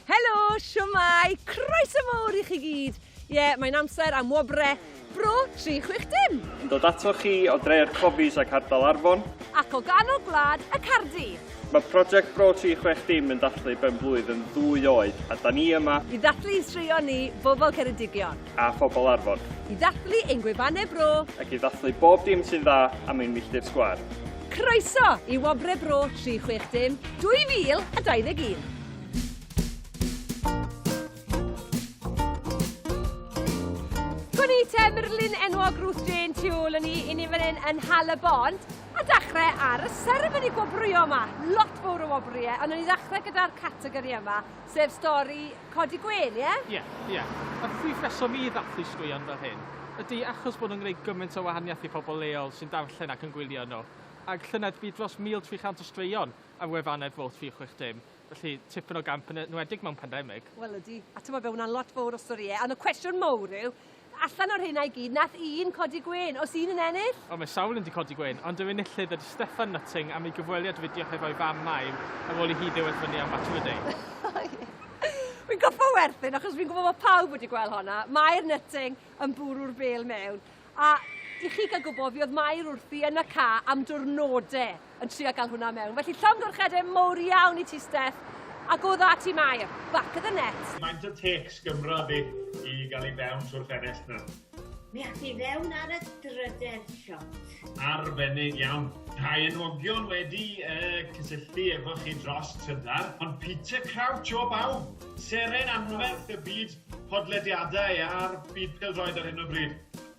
Helo, siwmai, croeso mawr i chi gyd. Ie, yeah, mae'n amser am wobre Bro 360. Yn dod ato chi o dre'r Cofis ac Ardal Arfon. Ac o ganol gwlad y Cardi. Mae prosiect Bro 360 yn dathlu ben blwydd yn ddwy oed a da ni yma. I ddathlu i straeon ni, bobl Ceredigion. A phobl Arfon. I ddathlu ein gwefannau bro. Ac i ddathlu bob dim sy'n dda am ein milltir sgwar. Croeso i Wobrau Bro 360 2021! Gwn i te murlun enwog Ruth Jane tu ôl yn ni, i ni fan hyn yn Hal y Bond, a dechrau ar y seremoni gwobrwyo yma. Lot fawr o wobrwyo, ond o'n i ddechrau gyda'r categori yma, Sef stori codi gwên, ie? Ie, ie. A'r prif reswm i ddathlu straeon fel hyn ydy achos bod nhw'n gwneud gymaint o wahaniaeth i phobl leol sy'n darllen ac yn gwylio nhw. Ar llynedd bu dros 1,300 o straeon ar wefannau'r Vote 360, felly tipyn o gamp yn enwedig mewn pandemig. Wel ydy, a timod be, mae hwnna'n lot fawr o storïau, ond y cwestiwn mawr yw, Allan o'r rheina i gyd, nath un codi gwên. O's un yn ennill? O, mae sawl un 'di codi gwên, ond yr enillydd ydi Steffan Nutting am ei gyfweliad fideo hefo'i fam Maim ar ôl i hi ddewed fyny am Match of the Day. O ie. Wi'n gorffo werthin achos fi'n gwbo bo pawb wedi gwel honna. Mair Nutting yn bwrw'r bel mewn. A i chi ga'l gwbo, fi o'dd Mair wrthi yn y car am dwrnode. yn trio gael hwnna mewn. Felly llongyfarchiadau mowr iawn i ti Steff, ac o dda ti Mair, back of the net. Faint o tecs Gymro di i gael i fewn trwy'r ffenest na? Mi ath i fewn ar y drydedd shot. Arbennig iawn. Rhai enwogion wedi uh, cysylltu efo chi dros trydar, ond Peter Crouch o bawb, seren anferth y byd podlediadau a'r byd peldroed ar hyn o bryd.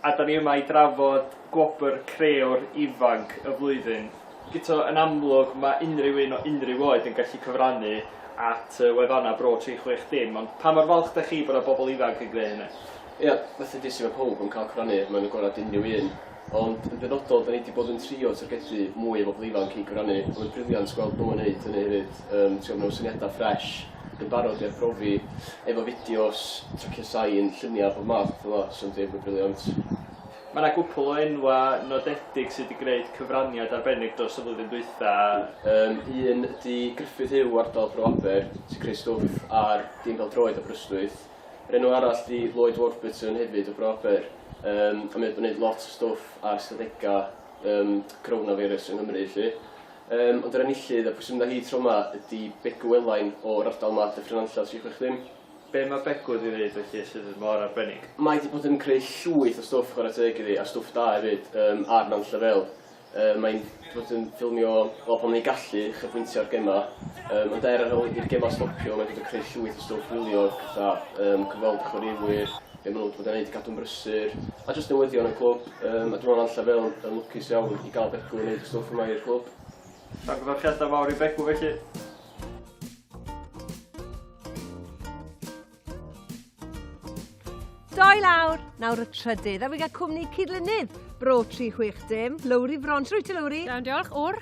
a dan ni yma i drafod gwobr Creor Ifanc y Flwyddyn. Guto, yn amlwg, mae unrhyw un o unrhyw oed yn gallu cyfrannu at y wefannau Bro 360, ond pa mor falch dach chi bod yna bobl ifanc yn gwneud hynny? Ia, fatha dudais i, mae pawb yn cael cyfrannu, mae o'n agored at unrhyw un, ond yn benodol, dan ni wedi bod yn trio targedu mwy o bobl ifanc i gyfrannu, a mae'n briliant gweld nhw yn wneud hynny hefyd, yym, ti'n gwybod, mewn syniadau ffresh. yn barod i arbrofi efo fideos tracio sain, lluniau o'r holl math a petha fel 'na, so yndi, mae'n briliant. Mae 'na gwpwl o enwau nodedig sy' 'di gwneud cyfraniad arbennig dros y flwyddyn dwytha. Yym un ydi Gruffydd Huw o ardal Bro Aber sy'n creu stwff ar dîm pêl-droed Aberystwyth. Yr enw arall ydi Lloyd Warburton hefyd o Bro Aber yym a mae o 'di bod yn neud lot o stwff ar ystadegau yym Coronavirus yng Nghymru 'lly. Yym ond yr enillydd a pwy sy'n mynd â hi tro 'ma ydi Begw Elain o ardal Mad Dyffryn Nantlle tri chwech dim. Be ma Begw wedi neud felly sydd mor arbennig? Mae 'di bod yn creu llwyth o stwff chware teg iddi a stwff da efyd yym ar Nantlle Vale. Yy mae'n 'di bod yn ffilmio wel pan mae'n ei gallu uchafbwyntio ar gema yym ond er ar ol i'r gema stopio mae'n dod yn creu llwyth o stwff wylio petha yym cyfweld â chwaraewyr, be maen nhw'n bod yn wneud i gadw'n brysur, a jyst newyddion y clwb. Um, a dwi'n meddwl lle fel yn lwcus iawn i gael Begw yn wneud y stwff yma i'r clwb. Llongyfarchiadau mawr i Begw felly. Doi lawr, nawr y trydydd, a fi gael cwmni cydlynydd Bro 360, Lowri Frons. Rwyt ti, Lowri? Iawn, diolch. O'r?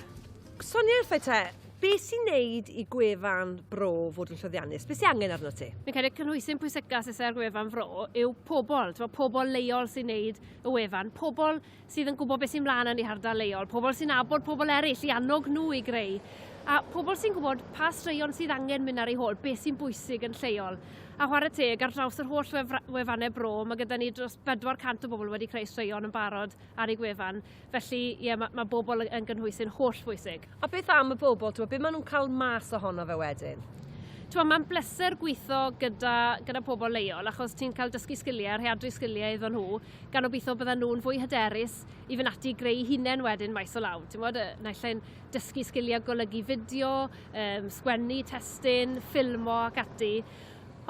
Sonia wrthau te. Be sy'n neud i gwefan bro fod yn llwyddiannus? Be sy angen arno ti? Fi'n credu cynhwysyn pwysica sydd ar gwefan fro yw pobl, ti'n pobl leol sy'n neud y wefan, pobl sydd yn gwybod beth sy'n mlaen yn ei hardal leol, pobl sy'n abod pobl eraill i annog nhw i greu, a pobl sy'n gwybod pa straeon sydd angen mynd ar ei hôl, beth sy'n bwysig yn lleol. A chwarae teg, ar draws yr holl wefannau bro, mae gyda ni dros 400 o bobl wedi creu straeon yn barod ar ei gwefan. Felly, ie, mae, mae bobl yn gynhwysy'n holl bwysig. A beth am y bobl, ti'n beth maen nhw'n cael mas ohono fe wedyn? Ti'n mae'n bleser gweithio gyda, gyda pobl leol, achos ti'n cael dysgu sgiliau, rheadru sgiliau iddo nhw, gan obeithio bydden nhw'n fwy hyderus i fynd ati greu hunain wedyn maes o law. Ti'n bod, naill ein dysgu sgiliau golygu fideo, um, sgwennu, testyn, ffilmo ac ati.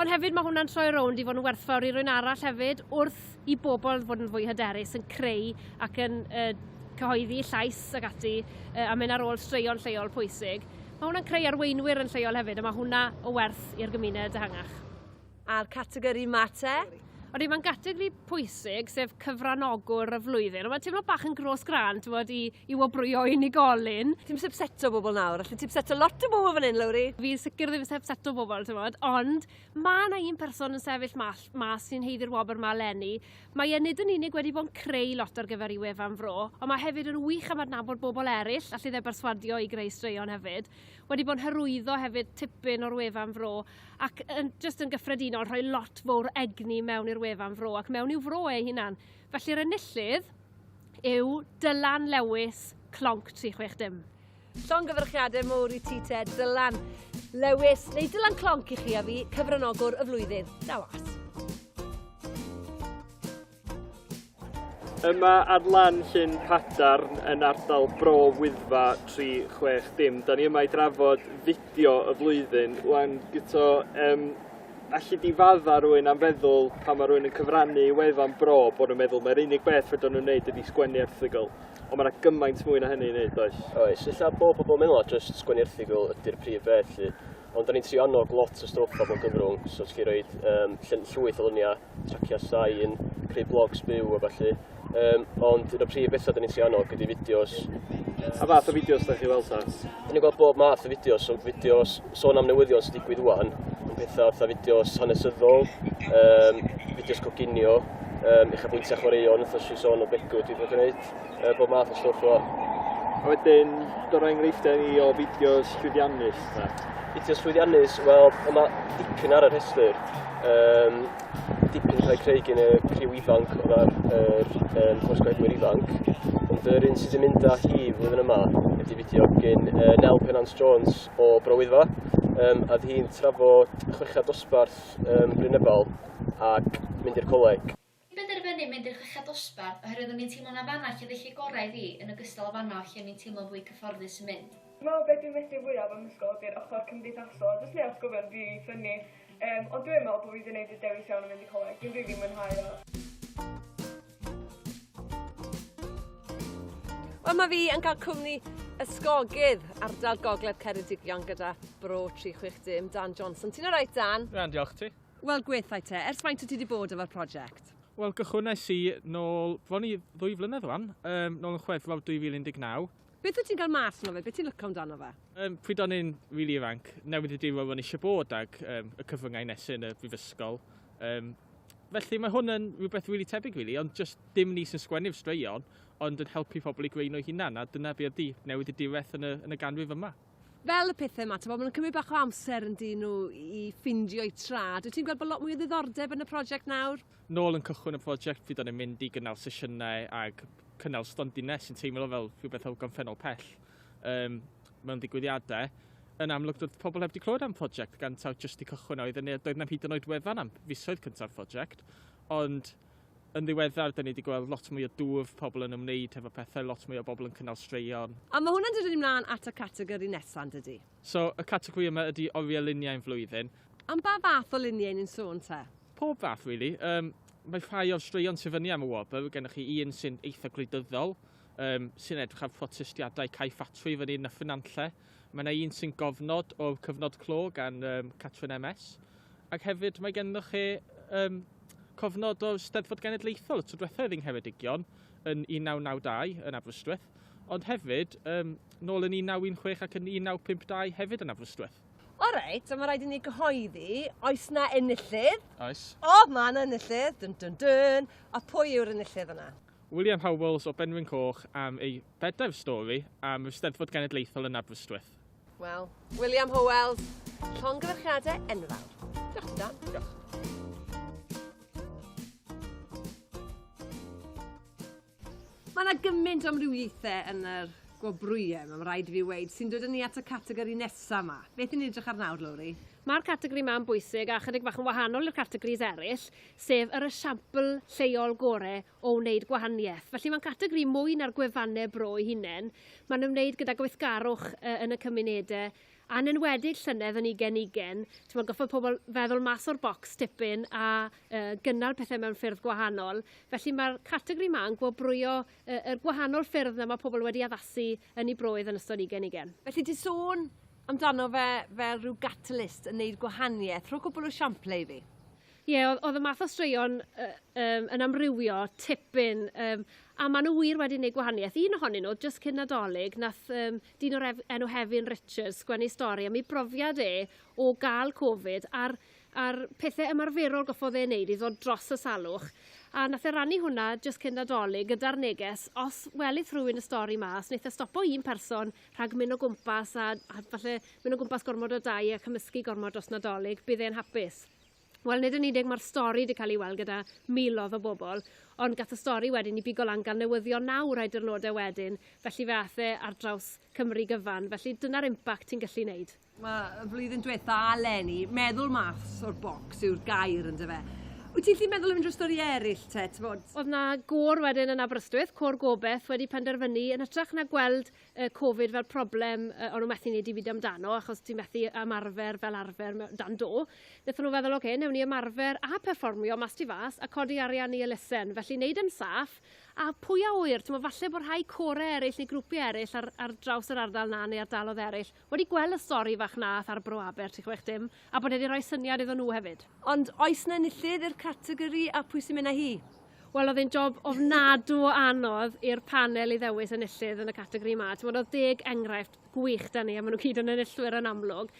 Ond hefyd mae hwnna'n troi rownd i fod yn werthfawr i rwy'n arall hefyd wrth i bobl fod yn fwy hyderus yn creu ac yn uh, cyhoeddi llais ac ati uh, a mynd ar ôl straeon lleol pwysig. Mae hwnna'n creu arweinwyr yn lleol hefyd a mae hwnna o werth i'r gymuned ehangach. A'r categori mate? Ond mae gategori pwysig, sef cyfranogwr y flwyddyn. Ond mae'n teimlo bach yn gros gran, ti'n bod, i, i wobrwyo unigolyn. Ti'n sepseto bobl nawr, allu ti'n sepseto lot o bobl fan hyn, Lowri? Fi sicr ddim sepseto bobl, ti'n bod, ond mae yna un person yn sefyll mas, mas sy'n heiddi'r wobr yma lenni. Mae e nid yn unig wedi bod yn creu lot ar gyfer i wefan fro, ond mae hefyd yn wych am adnabod bobl eraill, allu dde berswadio i greu straeon hefyd. Wedi bod yn hyrwyddo hefyd tipyn o'r wefan fro, ac yn, just yn gyffredinol, rhoi lot fawr egni mewn i'r wefan fro ac mewn i'w fro ei hunan. Felly'r enillydd yw Dylan Lewis, Clonc 360. Llongyfarchiadau mowr i ti te, Dylan Lewis, neu Dylan Clonc i chi a fi, cyfranogwr y flwyddyn. Da was. Yma ar lan Llyn Padarn yn ardal Bro Wyddfa 360. Da ni yma i drafod fideo y flwyddyn. Wan, gyto, um, allu di fadda rwy'n am feddwl pan mae rwy'n yn cyfrannu i wefan bro bod nhw'n meddwl mae'r unig beth fydden nhw'n wneud ydi sgwennu erthigol. Ond mae yna gymaint mwy na hynny i wneud, does? Oes, illa bod pobl yn meddwl at just sgwennu erthigol ydy'r prif beth, lly. Ond o'n i'n trio annog lot o stwff o bob gyfrwng, so ti roed um, llwyth o lyniau, tracio sain, creu blogs byw a falle. Um, ond un o'r prif bethau dyn ni'n trio annog ydy fideos. A fath o fideos da chi weld ta? Dyn ni'n gweld bob math o fideos, so fideos sôn am newyddion sy'n digwydd wwan, yn pethau fatha fideos hanesyddol, um, fideos coginio, um, eich bwyntio chwaraeon, wrth os i sôn o begw dwi'n gwneud. uh, bob math o stwff o. A wedyn, dod o enghreifftiau ni o fideos llwyddiannus. Fideos llwyddiannus, wel, yma dipyn ar y rhestr. Um, dipyn cael ei creu gen y criw ifanc o dda'r er, um, horsgwedwyr ifanc. Ond yr un sydd wedi mynd â hi flwyddyn yma ydy fideo gen uh, Nel Penance Jones o Browydfa um, a hi'n trafod chwechad dosbarth um, Brynebol ac mynd i'r coleg. Ni'n penderfynu mynd i'r chweched dosbarth oherwydd o'n i'n teimlo na fanna lle felly gorau i fi, yn ogystal â fanno lle o'n i'n teimlo'n fwy cyfforddus yn mynd. Dwi'n meddwl be dwi'n medru fwyaf am ysgol ydy'r ochr cymdeithasol a jyst neu' atgofion rili ffynni. Yym ond dwi yn meddwl bo' fi 'di neud y dewis iawn yn mynd i coleg, dwi'n rili mwynhau o. Wel ma' fi yn ca'l cwmni ysgogydd ardal gogledd Ceredigion gyda bro tri chwech dim Dan Johnson. Ti'n alright Dan? Iawn diolch, ti? Wel gwethau te, ers faint wyt ti wedi bod efo'r prosiect? Wel gychwynais i nôl, fo ni ddwy flynedd wan, um, nôl yn chwefror 2019. Beth wyt ti'n cael mas yno fe? Beth ti'n lyco amdano fe? Um, pryd o'n i'n rili really ifanc, newid y diwrnod o'n eisiau bod ag um, y cyfryngau nesu yn y brifysgol. Um, felly mae hwn yn rhywbeth rili really tebyg rili, really, ond just dim ni sy'n sgwennu'r straeon, ond yn helpu pobl i greu nhw hunan, a dyna beth ydy newid y diwedd yn y, yn y ganrif yma. Fel y pethe 'ma t'mo' ma' nw'n cymryd bach o amser yndyn nhw i ffindio'u trad. Wyt ti'n gweld bo' lot mwy o ddiddordeb yn y prosiect nawr? Nôl yn cychwyn y prosiect fydd o'n yn mynd i gynnal sesiynau ag cynnal stondinne sy'n teimlo fel rhywbeth o gamffennol pell yym mewn digwyddiade. Yn amlwg doedd pobl heb 'di clywed am prosiect gan taw jyst 'di cychwyn a oedd yn ne- doedd 'na'm hyd yn oed wefan am fisoedd cynta'r prosiect ond Yn ddiweddar, dyn ni wedi gweld lot mwy o dwf, pobl yn ymwneud hefo pethau, lot mwy o bobl yn cynnal straeon. A mae hwnna'n dod â ni mlaen at y categori nesa', yn dydi? So, y categori yma ydi oriau luniau yn flwyddyn. Am ba fath o luniau ni'n sôn te? Pob fath, rili. Yym, mae rhai o'r straeon sy'n fyny am y wobr, gennych chi un sy'n eitha' gwleidyddol, yym, sy'n edrych ar protestiadau cau ffatri fan hyn a ffynanlle. Mae yna un sy'n gofnod o cyfnod clo gan um, Catrin MS. Ac hefyd mae gennych chi um, cofnod o Steddfod Genedlaethol y tro diwethaf yng Ngheredigion yn 1992 yn Aberystwyth, ond hefyd um, nôl yn 1916 ac yn 1952 hefyd yn Aberystwyth. O reit, so mae rhaid i ni gyhoeddi, oes na enillydd? Oes. O, mae yna enillydd, dyn dyn dyn. A pwy yw'r enillydd yna? William Howells o Benrhyn Coch am ei bedair stori am yr Eisteddfod Genedlaethol yn Aberystwyth. Wel, William Howells, llongyfarchiadau enfawr. Diolch, Dan. Diolch. Mae yna gymaint o amrywiaethau yn yr gwobrwyau, mae'n rhaid i fi weid, sy'n dod yn ni at y categori nesaf yma. Beth yn edrych ar nawr, Lowri? Mae'r categori yma yn bwysig a chydig bach yn wahanol i'r categories eraill. sef yr esiampl lleol gore o wneud gwahaniaeth. Felly mae'n categori mwy na'r gwefannau bro ei hunain, mae'n ymwneud gyda gweithgarwch yn y cymunedau, a'n enwedig llynedd yn ugen ugen, ti'n goffa pobl feddwl mas o'r bocs tipyn a gynnal pethau mewn ffyrdd gwahanol. Felly mae'r categori yma yn gwobrwyo y gwahanol ffyrdd na mae pobl wedi addasu yn ei broedd yn ystod ugen ugen. Felly ti sôn amdano fe fel rhyw gatalist yn neud gwahaniaeth. Rho cwbl o siamplau i fi. Ie, oedd, oedd y math o straeon uh, um, yn amrywio tipyn, um, a maen nhw wir wedi gwneud gwahaniaeth. Un ohonyn nhw, just cyn nadolig, nath um, dyn o'r enw Hefin Richards gwenu stori am ei brofiad e o gael Covid a'r, ar pethau ymarferol goffodd ei wneud i ddod dros y salwch. A nath e rannu hwnna just cyn nadolig gyda'r neges, os welith rhywun y stori mas, wnaeth e stopo un person rhag mynd o gwmpas a, a falle mynd o gwmpas gormod o dau a cymysgu gormod dros nadolig, bydd e'n hapus. Wel, nid yn unig mae'r stori wedi cael ei weld gyda milodd o bobl, ond gath y stori wedyn i bigo lan gan newyddion naw rhai diwrnodau wedyn, felly fe ath e ar draws Cymru gyfan, felly dyna'r impact ti'n gallu wneud. Mae y flwyddyn diwetha' eleni, meddwl mas o'r bocs yw'r gair ynde fe? Wyt ti'n gallu meddwl am unrhyw stori eraill te, t'mod? Oedd 'na gôr wedyn yn Aberystwyth, Côr Gobeth wedi penderfynu yn hytrach na gweld y Covid fel problem uh, o'n nhw methu wneud i fyd amdano, achos ti'n methu ymarfer fel arfer dan do. Nethon nhw feddwl, oce, okay, newn ni ymarfer a perfformio mas ti fas a codi arian i elusen. Felly, wneud yn saff, a pwy a oer, ti'n falle bod rhai core eraill neu grwpiau eraill ar, ar draws yr ardal na neu ardalodd eraill wedi gweld y stori fach nath ar Bro Aber tri chwech dim a bod e 'di roi syniad iddo nhw hefyd. Ond oes 'na enillydd i'r categori a pwy sy'n mynd â hi? Wel oedd e'n job ofnadw o anodd i'r panel i ddewis enillydd yn y categori 'ma. T'mod oedd deg enghraifft gwych 'da ni a ma' nhw gyd yn enillwyr yn amlwg.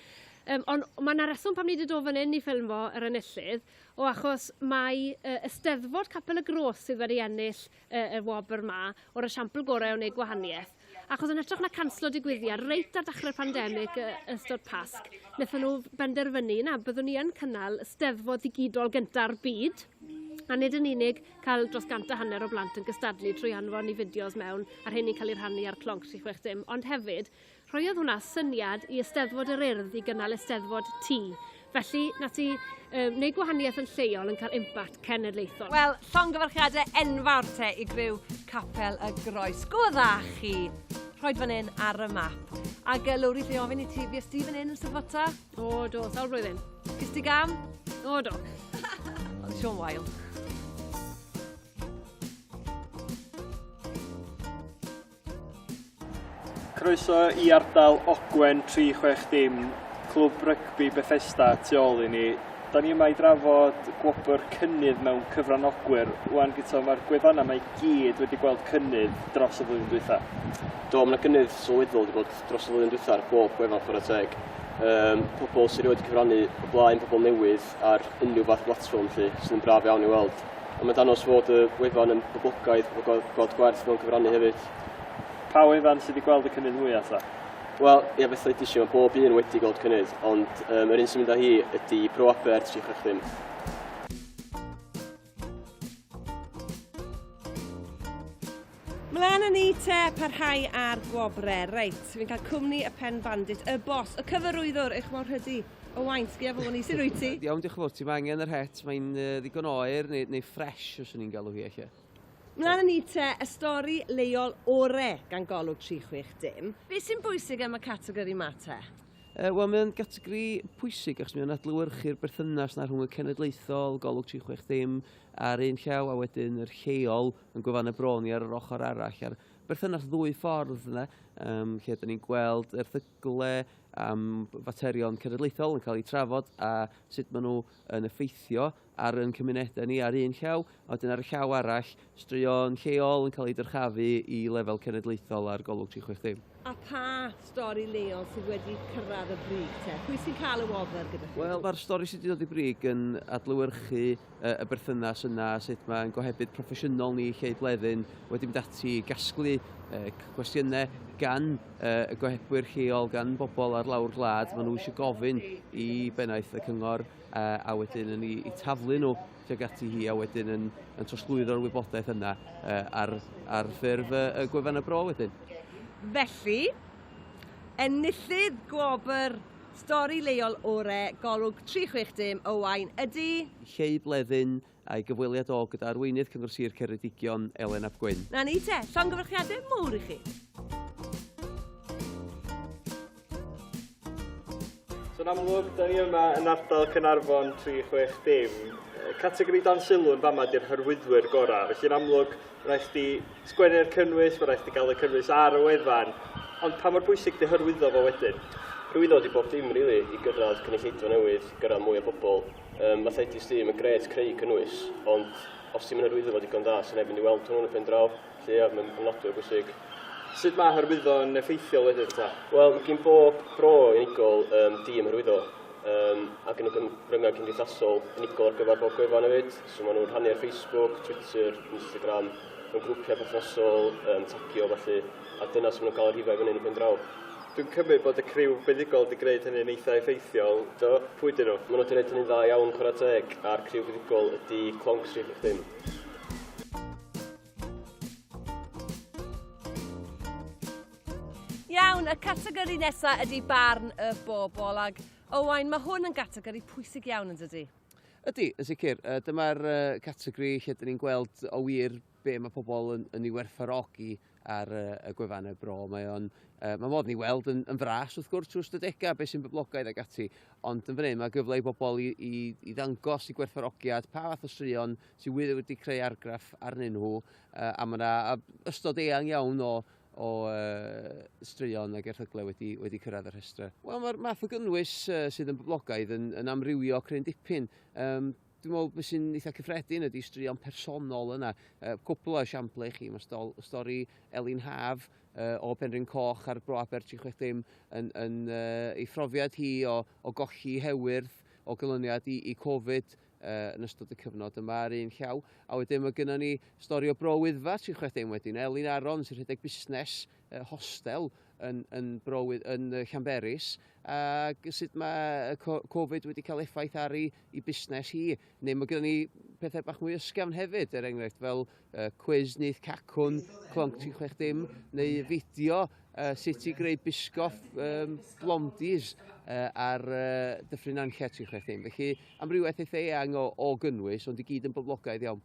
Um, ond mae yna reswm pam ni wedi dod fan hyn i ffilmfo yr enillydd, o achos mae uh, Ysteddfod Capel y Gros sydd wedi ennill uh, y wobr 'ma o'r esiampl gorau o wneud gwahaniaeth. Achos yn hytrach na canslo digwyddiad reit ar ddechrau'r pandemig y- yn ystod Pasg, wnaethon nhw benderfynu na byddwn ni yn cynnal y Steddfod ddigidol gyntaf byd, a nid yn unig cael dros gant a hanner o blant yn gystadlu trwy anfon i fideos mewn a'r rheini'n cael eu rhannu ar Clonc 360, ond hefyd rhoiodd hwnna syniad i Eisteddfod yr Urdd i gynnal Eisteddfod Tŷ, Felly, na ti uh, wneud gwahaniaeth yn lleol yn cael impact cenedlaethol. Wel, llongyfarchiadau enfawr te i gryw Capel y Groes. Go dda chi! Rhoed fan hyn ar y map. Ac uh, Lowri, lle ofyn i ti, fi ysdi fan hyn yn Sylfota? O, do, sawl blwyddyn. Gys ti gam? O, do. Ond Sean Wael. Croeso i ardal Ogwen 360, clwb rygbi Bethesda tu ôl i ni. Da ni yma i drafod gwobr cynnydd mewn cyfranogwyr. Wan Guto, mae'r gwefannau mae gyd wedi gweld cynnydd dros y flwyddyn dwytha. Do, mae yna gynnydd sylweddol wedi bod dros y flwyddyn dwytha ar bob gwefan chwarae teg. Um, pobl sy'n rhoi wedi cyfrannu o blaen, pobl newydd, ar unrhyw fath blatfform lly, sydd yn braf iawn i weld. Ond mae'n danos fod y wefan yn boblogaidd o god, god gwerth mewn cyfrannu hefyd. Pa wefan sydd wedi gweld y cynnydd mwyaf ta? Wel, ie, beth oedd eisiau, mae bob un wedi gweld cynnydd, ond um, yr un sy'n mynd â hi ydy Pro Aper 360. Mlaen â ni te, parhau ar gwobre. Reit, fi'n cael cwmni y pen bandit, y bos, y cyfarwyddwr, eich mor hydy. O wain, sgia fo ni, sy'n rwy ti? Iawn, diolch yn fawr ti, mae angen yr het, mae'n uh, ddigon oer neu, neu ffres, os o'n i'n galw hi eich. Mlaen â ni te, y stori leol ore gan golwg 360. Be sy'n bwysig am y categori ma te? Uh, Wel, mae'n gategori pwysig achos mae'n adlywyrchu'r berthynas na rhwng y cenedlaethol, golwg 36 dim, a'r un llaw a wedyn yr lleol yn gwefan y bron i ar yr ochr arall. A'r berthynas ddwy ffordd yna, um, lle da ni'n gweld erthygle am faterion cenedlaethol yn cael eu trafod a sut maen nhw yn effeithio ar ein cymunedau ni ar un llaw, a wedyn ar y llaw arall, straeon lleol yn cael eu dyrchafu i lefel cenedlaethol ar Golwg 360. A pa stori leol sydd wedi cyrraedd y brig te? Pwy sy'n cael y wobr gyda chi? Wel, mae'r stori sydd wedi dod i brig yn adlywyrchu y berthynas yna, sut mae'n gohebydd proffesiynol ni lle i bleddyn wedi mynd ati i gasglu cwestiynau gan y gohebwyr lleol, gan bobl ar lawr gwlad, maen nhw eisiau gofyn i bennaeth y cyngor a, a wedyn yn ei, ei taflu nhw tuag ati hi a wedyn yn, yn trosglwyddo'r wybodaeth yna uh, ar, ar ffurf uh, y gwefan y bro wedyn. Felly, enillydd gwobr stori leol ore golwg 360 Owain ydy... Lleu Bleddyn, a'i gyfweliad o gyda arweinydd Cyngor Sir Ceredigion, Elen ap Gwyn. Na ni te, llongyfarchiadau mowr i chi. So'n amlwg, da ni yma yn ardal Cynarfon 360. Categori dan sylw yn fama di'r hyrwyddwyr gorau. Felly'n amlwg, rhaid chdi sgwennu'r cynnwys, mae rhaid chdi gael y cynnwys ar y wefan. Ond pa mor bwysig di hyrwyddo fo wedyn? Rwy'n dod i bob dim, rili, i gyrraedd cynulleidfa newydd, gyrraedd mwy o bobl, Ym Mathetes di, mae'n gret creu cynnwys, ond os ti'm yn hyrwyddo fo digon da, sy'n neb mynd i weld hwnnw yn y pen draw, felly ia, mae'n ofnadwy o bwysig. Sut mae hyrwyddo'n effeithiol wedyn ta? Wel, mae gin bob bro unigol um, dîm hyrwyddo, um, a gen nhw gyfryngau cymdeithasol unigol ar gyfer bob gwefan hefyd, so maen nhw'n rhannu ar Facebook, Twitter, Instagram, mewn grwpiau perthnasol, um, tagio felly, a dyna sy'n nhw'n cael y rhifau fyny yn y pen draw. Dwi'n cymryd bod y criw buddugol wedi gwneud hynny'n eitha' effeithiol, do? Pwy 'dyn nhw? Maen nhw wedi gwneud hynny'n dda iawn, chwarae teg, a'r criw fuddugol ydy clonc Sir Frychlyn. Iawn, y categori nesa' ydy barn y bobl, ac Owain, mae hwn yn gategori pwysig iawn, yn dydy? Ydy, yn sicr. Dyma'r categori lle 'dyn ni'n gweld o wir be' mae pobl yn yn ei werthfawrogi. ar y gwefannau bro. Mae o'n, uh, mae modd ni weld yn, yn fras wrth gwrs trwy ystadegau, beth sy'n boblogaidd ag ati, ond yn fan hyn mae gyfle i bobl i, i, i ddangos i gwerthfarogiad pa fath o straeon sydd wir wedi creu argraff arnyn nhw, uh, a mae yna ystod eang iawn o, o uh, straeon ag erthyglau wedi, wedi cyrraedd y rhestrau. Wel, mae'r math o gynnwys uh, sydd yn boblogaidd yn, yn amrywio cryn dipyn. Um, Dwi'n meddwl beth sy'n eitha cyffredin ydy straeon personol yna. Uh, cwpl o esiampl i chi, mae stol, stori Elin Haf uh, o Penrhyn Coch ar Bro Aber 360 yn, yn uh, ei phrofiad hi o, o golli hewyrth o gylyniad i, i Covid uh, yn ystod y cyfnod yma ar un llaw. A wedyn mae gennym ni stori o Bro Wyddfa 360 wedyn, Elin Aron sy'n rhedeg busnes y hostel yn, yn browydd yn Llanberis ac sut mae Covid wedi cael effaith ar ei, ei busnes hi. Neu mae gen ni pethau bach mwy ysgafn hefyd, er enghraifft fel uh, cwiz nith cacwn, clonc ti'n chwech dim, neu fideo uh, sut i greu bisgoff um, blondies uh, ar uh, dyffryn anllet ti'n chwech dim. Felly amrywiaeth eitha eang o, o gynnwys, ond i gyd yn boblogaidd iawn.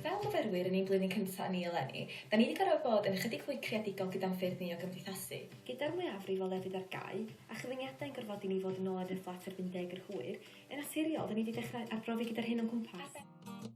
Fel myfyrwyr yn ein blwyddyn cyntaf ni eleni, da ni wedi gorfod bod yn ychydig fwy creadigol gyda'n ffyrdd ni o gymdeithasu. Gyda'r mwyafrif o lefydd ar gau, a chyfyngiadau'n gorfodi ni fod yn ôl yn y fflat erbyn deg yr hwyr, yn naturiol, da ni wedi dechrau arbrofi gyda'r hyn o'n cwmpas.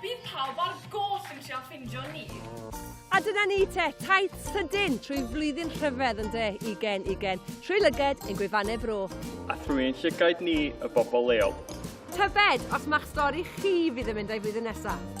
Bydd pawb ar goll yn trio ffindio ni. A dyna ni te, taith sydyn trwy flwyddyn rhyfedd yn de, ugen, ugen, trwy lyged ein gwefannau bro. A thrwy ein llygaid ni, y bobl leol. Tybed os mae'ch stori chi fydd yn mynd o'i flwyddyn nesaf?